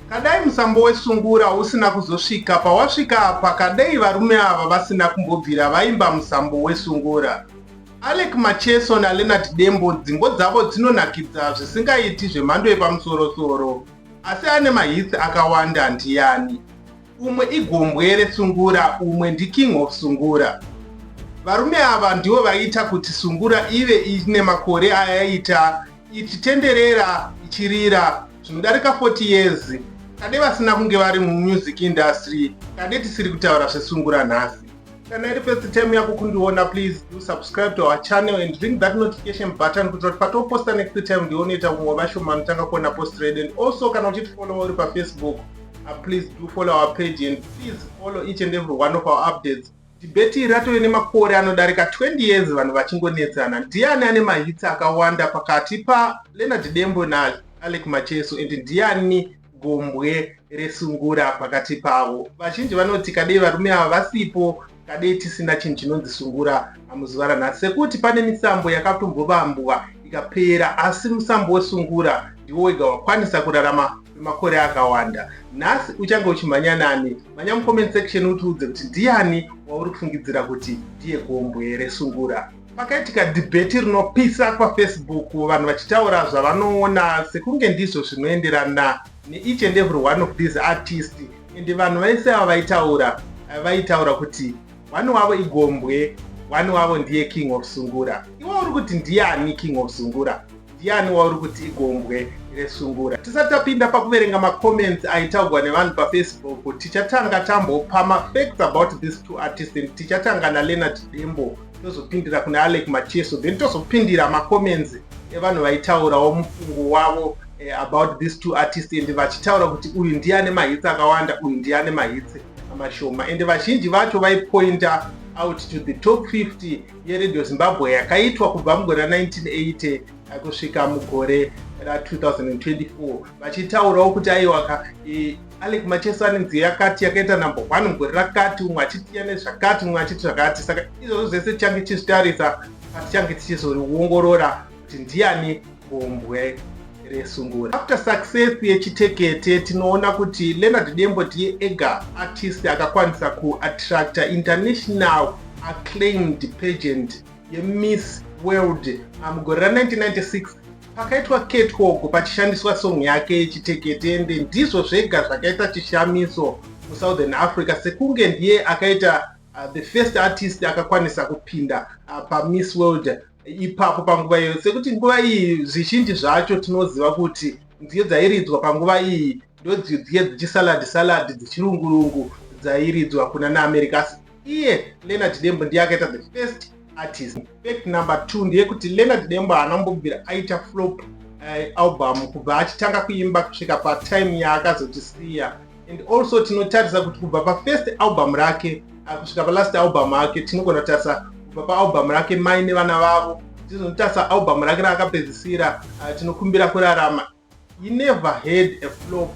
Kadai musambo wesungura usina kuzosvika pawasvika apa kadei varume ava vasina kumbobvira vaimba musambo wesungura. Alec Macheso naLeonard Dembo dzimbo dzavo dzinonakidza zvisingaiti zvemhando yepamusorosoro. Asi ane mahits akawanda ndiyani? umwe igombwere sungura umwe ndiking of sungura varume ava ndivo vaiita kuti sungura ive ine makore ayaiita ichitenderera ichirira zvinodarika 40 years kade vasina kunge vari mumusic industry kade tisiri kutaura zvesungura nhasi Kana iri first time yako kundiona please do subscribe to our channel and ring that notification button kuitira kuti patoposta next time ndionoita vamwe vashoma anotanga kuona post red and also kana uchitifollowa uri pafacebook uh, please do follow our page and please follow each and every one of our updates dhibheti ratove nemakore anodarika 20 years vanhu vachingonetsana ndiani ane mahitsi akawanda pakati paleonard dembo naalec macheso and ndiani gombwe resungura pakati pavo vazhinji vanoti kadei varume ava vasipo kadei tisina chinhu chinonzi sungura muzuva ranhasi sekuti pane misambo yakatombovambwa ikapera asi musambo wesungura ndiwo wega wakwanisa kurarama kwemakore akawanda nhasi uchange uchimhanya nani mhanya mucomment section utiudze kuti ndiyani wauri kufungidzira kuti ndiye gombwe resungura Pakaitika dhibheti rinopisa kwaFacebook vanhu vachitaura zvavanoona sekunge ndizvo zvinoenderana neeach and every one of these artist and vanhu vaise ava vaitaura eh, vaitaura kuti one wavo igombwe one wavo ndiye king of sungura iwe uri kuti ndiyani king of sungura Ndiani wauri kuti igombwe resungura? Tisati tapinda pakuverenga macomments aitaugwa nevanhu pafacebook, tichatanga tambopa mafacts about these two artists and tichatanga naleonard dembo tozopindira kune alec macheso then tozopindira macomments evanhu vaitaurawo mufungo wavo eh, about these two artists and vachitaura kuti uyu ndiye ane mahitsi akawanda uyu ndiye ane mahitsi mashoma and vazhinji vacho vaipointa out to the top 50 yeRadio Zimbabwe yakaitwa kubva mugore ra 1980 kusvika mugore ra 2024 vachitaurawo kuti aiwaka e, alec macheso ane nziyo yakati yakaita number one mugore rakati umwe achitiya nezvakati umwe achiti zvakati saka izvozvo zvese tichange tichizvitarisa patichange tichizoriongorora kuti ndiyani gombwe resungura. After success yechitekete tinoona kuti Leonard Dembo ndiye ega artist akakwanisa kuattracta international acclaimed pageant yeMiss World ah, mugore ra 1996 pakaitwa catwalk pachishandiswa song yake yechitekete ende ndizvo zvega zvakaita chishamiso musouthern africa sekunge ndiye akaita uh, the first artist akakwanisa kupinda uh, pamiss world ipapo panguva iyoyo sekuti nguva iyi zvizhinji zvacho tinoziva kuti nziyo dzairidzwa panguva iyi ndodziye dzichisalad salad dzichirungurungu dzairidzwa kuna naamerika asi iye leonard dembo ndiye akaita the first artist fact number two ndeyekuti leonard dembo haana kumbobvira aita flop uh, album kubva achitanga kuimba kusvika patime yaakazotisiya and also tinotarisa kuti kubva pafirst album rake ah, kusvika palast album ake tinogona kutarisa kubva paalbum rake mai nevana vavo tizonotarisa album rake raakapedzisira ah, tinokumbira kurarama he never had a flop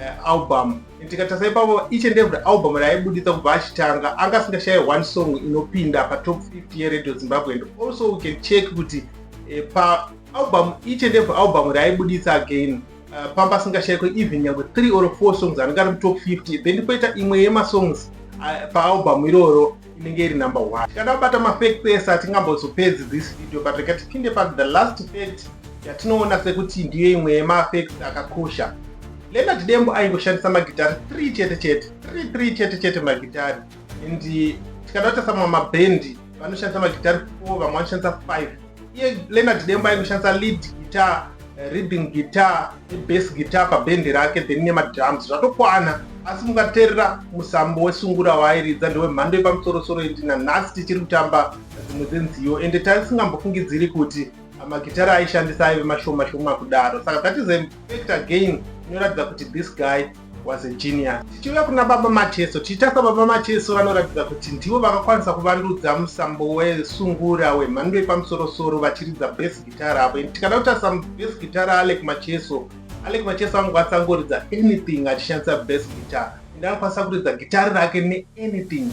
eh, album tikatarisa ipapo each and every album raaibuditsa kubva achitanga anga asingashaye one song inopinda patop 50 yeradio zimbabwe and also we can check kuti eh, paalbum each and every album raaibuditsa again Eh, pamba asingashayikwe even nyangwe 3 or 4 songs anenge ari mutop 50 then koita imwe yemasongs eh, paalbum iroro inenge iri number one tikada kubata mafake pese hatingambozopedzi this video but rega tipinde pa the last fact yatinoona sekuti ndiyo imwe yemafacts akakosha lena tidembo aingoshandisa magitari 3 chete chete 3 3 chete chete magitari and tikada kuita samwe mabhendi vanoshandisa magitari 4 vamwe vanoshandisa 5 iye leonard demba aingoshandisa lead guitar eh, reading guitar nebass guitar pabhendi rake then nemadrums zvatokwana asi mungateerera musambo wesungura waairidza ndewemhando yepamusorosoro indi nanhasi tichiri kutamba dzimwe dzenziyo ende taisingambofungidziri kuti magitari aishandisa aive mashoma shoma kudaro saka that is a fact again inoratidza kuti this guy was a genius tichiuya kuna baba mateso tichitasa baba mateso vanoratidza kuti ndivo vakakwanisa kuvandudza musambo wesungura wemhando yepamusorosoro vachiridza bes guitar avo and tikada kutarisa bes guitar alec macheso alec macheso anokwanisa kungoridza anything achishandisa bes guitar and anokwanisa kuridza gitari rake neanything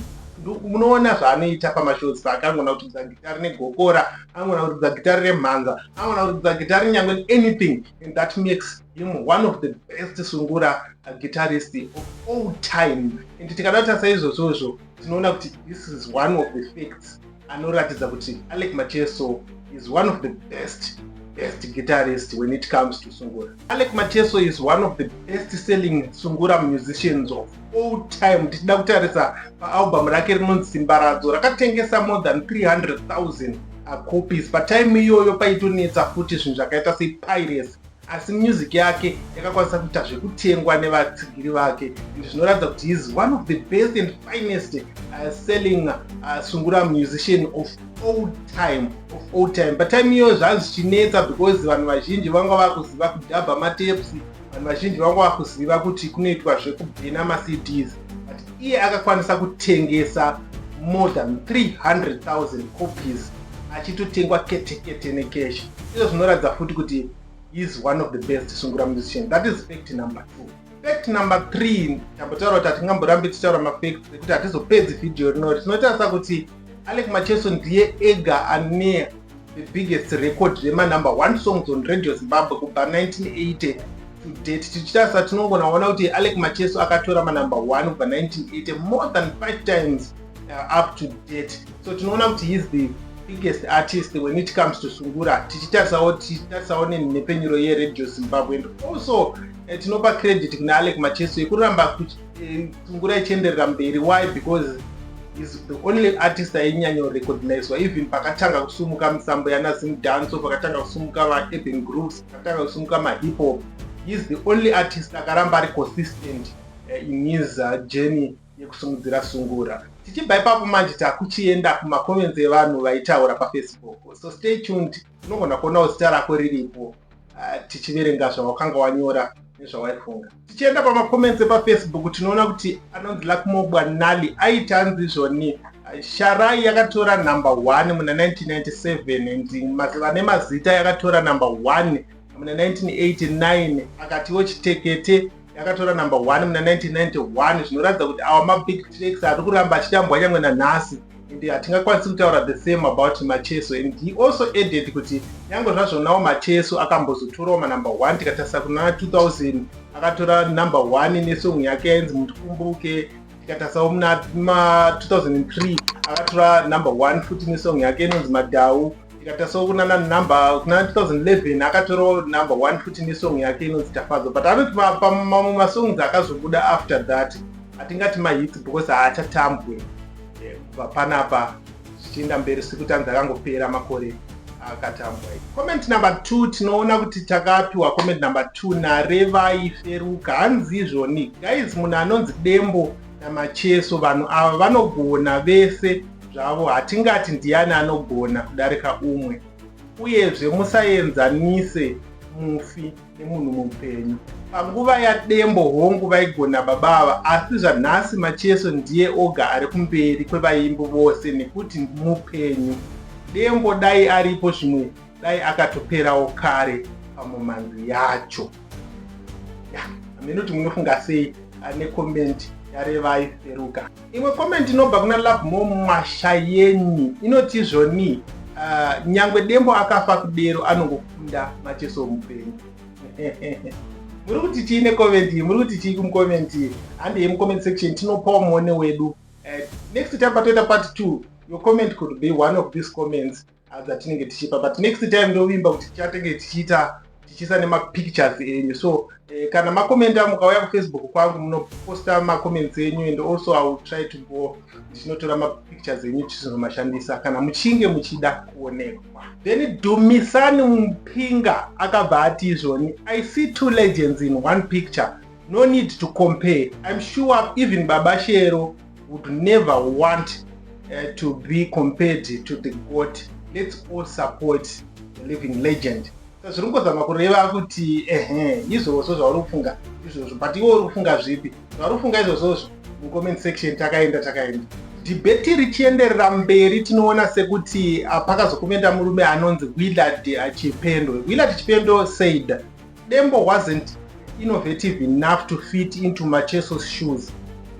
munoona zvaanoita pamashows paakangona kuridza gitari negokora angona kuridza gitari remhanza angona kuridza gitari nyangwe anything and that makes him one of the best sungura uh, guitarist of all time and tikada kutarisa izvozvozvo tinoona kuti this is one of the facts anoratidza kuti alec macheso is one of the best best guitarist when it comes to sungura alec macheso is one of the best selling sungura musicians of all time tichida kutarisa paalbum rake rinonzi simbaradzo rakatengesa more than 300000 uh, copies patime iyoyo paitonetsa futi zvinhu zvakaita sepiracy asi music yake yakakwanisa kuita zvekutengwa nevatsigiri vake izvi zvinoratidza kuti is one of the best and finest uh, selling uh, sungura musician of all time of all time patime iyoyo zvanga zvichinetsa because vanhu vazhinji vanga vakuziva kudhabha matepsi vanhu vazhinji vanga vakuziva kuti kunoitwa zvekubhena macds iye akakwanisa kutengesa more than 300,000 copies achitotengwa ketekete nekeshi izvo zvinoratidza futi kuti is one of the best sungura musician that is fact number two fact number three tambotaura kuti hatingamborambi tichitaura mafact ekuti hatizopedzi vhidhiyo rinori tinotarisa kuti Alec Macheso ndiye ega ane the biggest record remanumber one songs on radio zimbabwe kubva 1980 to date tichitarisa tinongonaona kuti alec macheso akatora manumber one kubva 1980 more than five times uh, up to date so tinoona kuti heis the biggest artist when it comes to sungura tichitarisawo tichitarisawo nenhepfenyuro yeradio zimbabwe and also eh, tinopa credit kuna alec macheso yekuramba Sungura ichienderera mberi why because is the only artist ainyanyo recognizwa even pakatanga kusumuka misambo yana zim danso pakatanga kusumuka vaurban groups pakatanga kusumuka mahip hop is the only artist akaramba ari consistent eh, in his uh, journey yekusumudzira sungura tichibva ipapo manje takuchienda kumacomments evanhu vaitaura pafacebook so stay tuned Unogona kuonawo zita rako riripo ah, tichiverenga zvawakanga wanyora nezvawaifunga. Tichienda pamacomments epafacebook tinoona kuti anonzi Lakmobwa Nali aiti anzi izvoni ah, Sharai yakatora number one muna 1997 and maziva nemazita yakatora number one muna 1989 akatiwo chitekete yakatora number 1 muna 1991 zvinoratidza kuti awa mabig tracks ari kuramba achitambwa nyangwe nanhasi and hatingakwanisi kutaura the same about macheso and he also added kuti nyangwe zvazvonawo macheso akambozotorawo manumber 1 tikatarisa kuna 2000 akatora number 1 nesong yake yainzi mutikumbuke tikatarisawo muna 2003 akatora number 1 futi nesong yake inonzi madhau ndikatasawo kunana number kuna 2011 akatorawo number one futi nesong yake inonzi tafadzwa but anoti mamwe masongs akazobuda after that hatingati mahits because haachatambwe eh, kubva panapa zvichienda mberi sekuti anzi akangopera makore akatambwa comment number two tinoona kuti takapiwa comment number two narevai feruka hanzi izvoni guys munhu anonzi dembo namacheso vanhu ava vanogona vese zvavo hatingati ndiyani anogona kudarika umwe uyezve musaenzanise mufi nemunhu mupenyu panguva yadembo hongu vaigona baba ava asi zvanhasi macheso ndiye oga ari kumberi kwevaimbi vose nekuti mupenyu dembo dai aripo zvimwe dai akatoperawo kare pamomanzi yacho hameno kuti munofunga sei ane komenti yarevai seruka Imwe comment inobva kuna Lovemore Mwashayeni inoti zvoni uh, nyangwe dembo akafa kudero anongokunda macheso mupenyu muri kuti chii necomment iyi muri kuti chii kumcomment iyi handi yemucomment section tinopawo muone wedu uh, next time patoita part two your comment could be one of these comments adzatinenge tichipa but next time ndovimba kuti tichatenge tichiita tichiisa nemapictures enyu so eh, kana makomenta mukauya kufacebook kwangu munoposta macomments enyu and also i will try to go ndichinotora mapictures enyu tichizomashandisa kana muchinge muchida kuonekwa then dumisani mupinga akabva ati izvoni i see two legends in one picture no need to compare im sure even baba shero would never want uh, to be compared to the god let's all support the living legend so zviri kungozama kureva kuti ehe izvozvo zvauri kufunga izvozvo but iwe uri kufunga zvipi zvauri kufunga izvozvozvo mucomment section takaenda takaenda dhibheti richienderera mberi tinoona sekuti ah, pakazokomenda murume anonzi willard chipendo willard chipendo said Dembo wasn't innovative enough to fit into Macheso's shoes.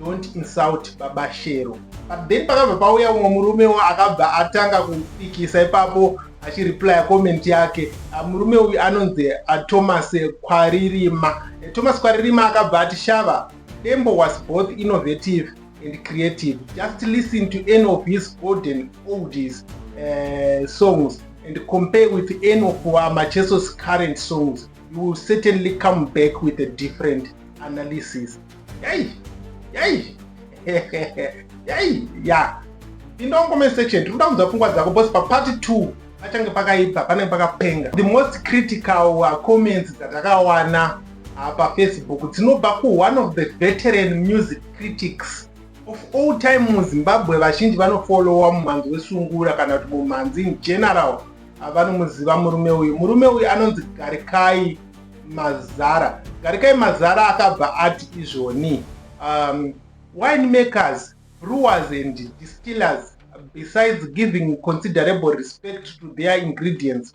Don't insult Baba Shero. But then pakabva pauya umwe murume wo akabva atanga kupikisa ipapo achireplya comment yake ah, murume uyu anonzi ah, thomas kwaririma eh, thomas kwaririma akabva ati shava dembo was both innovative and creative just listen to any of his golden oldies uh, songs and compare with any of our Macheso's current songs, you will certainly come back with a different analysis. Yay! Yay! Yay! Yeah. In the comment section, tiri kuda kunzwa pfungwa dzako because part 2 pachange pakaipa panenge pakapenga. The most critical uh, comments dzatakawana uh, pafacebook dzinobva ku one of the veteran music critics Of all time muZimbabwe vazhinji vanofollowa mumhanzi wesungura kana kuti mumhanzi in general avanomuziva murume uyu. Murume uyu anonzi Garikai Mazara. Garikai Mazara akabva ati izvoni um, wine makers, brewers and distillers besides giving considerable respect to their ingredients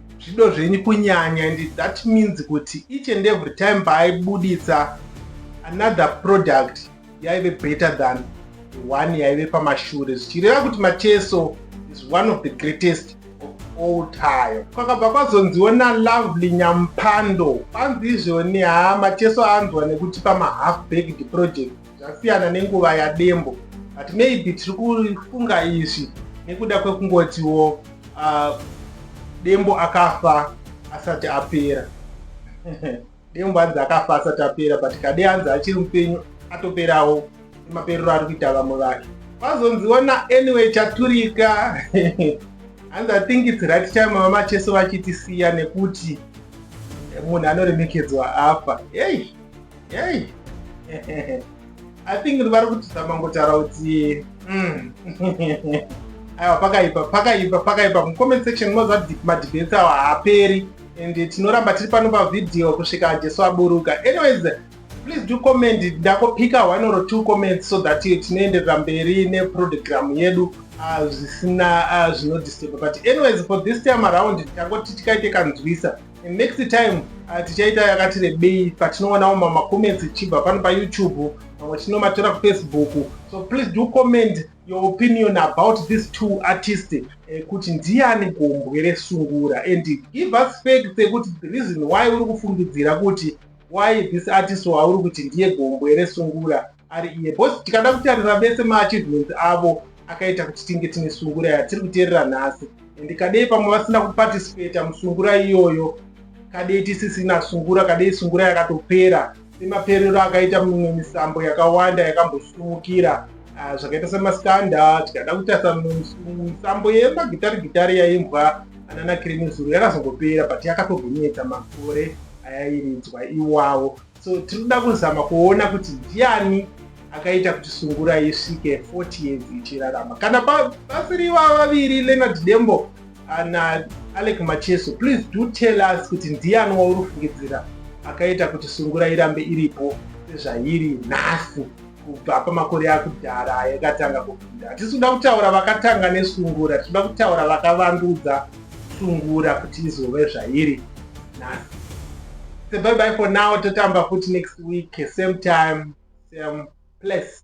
zvido zvenyu kunyanya and that means kuti each and every time paaibuditsa another product yaive better than the one yaive pamashure zvichireva kuti macheso is one of the greatest of all time kwakabva kwazonziwo nalovely nyampando panzi izvoni haa macheso anzwa nekuti pamahalf baked project zvasiyana nenguva yadembo but maybe tiri kufunga izvi nekuda kwekungotiwo uh, dembo akafa asati apera dembo hanzi akafa asati apera but kade hanzi achiri mupenyu atoperawo emaperero ari kuita vamwe vake vazonziona anyway chaturika hanzi athink its right time mama cheso vachitisiya nekuti munhu anoremekedzwa afa hei Hey. I think vari kutizama ngotaura kuti mm. aiwa pakaipa pakaipa pakaipa mucomment section moziva madebate awa haaperi and tinoramba tiri pano pavhidhiyo kusvika jesu aburuka anyways please do comment ndakopika one or two comments so that tinoenderera mberi neprogram yedu ah, zvisina ah, zvinodisturba but anyways for this time around ndangoti tikaite kanzwisa And next time uh, tichaita yakati rebei patinoonawo mamacomments ichibva pano payoutube mamwe tinomatora kufacebook so please do comment your opinion about these two artists eh, kuti uh, ndiani gombwe resungura and give us facts ekuti the reason why uri kufungidzira kuti why this artist wauri kuti ndiye gombwe resungura ari iye bcause tikada kutarira vese maachievements avo akaita kuti tinge tine sungura yatiri kuteerera nhasi and kadei pamwe vasina kuparticipata musungura iyoyo kadei tisisina sungura kadei sungura yakatopera semaperero akaita mimwe misambo yakawanda yakambosumukira ah, zvakaita semaskanda tikada kutarisa misambo yemagitari gitari yaimbwa anana kirimizuro yakazongopera but yakatogonetsa makore ayairidzwa iwawo so tiri kuda kuzama kuona kuti ndiani akaita kuti sungura isvike 40 years ichirarama kana pasiri ivava vaviri leonard dembo ana alec macheso please do tell us kuti ndiani wauri kufungidzira akaita kuti sungura irambe iripo sezvairi nhasi kubva pamakore akudhara ayakatanga kupinda hatisi kuda kutaura vakatanga nesungura tinoda kutaura vakavandudza sungura kuti izove zvairi nhasi sebye bye for now totamba futi next week same time same place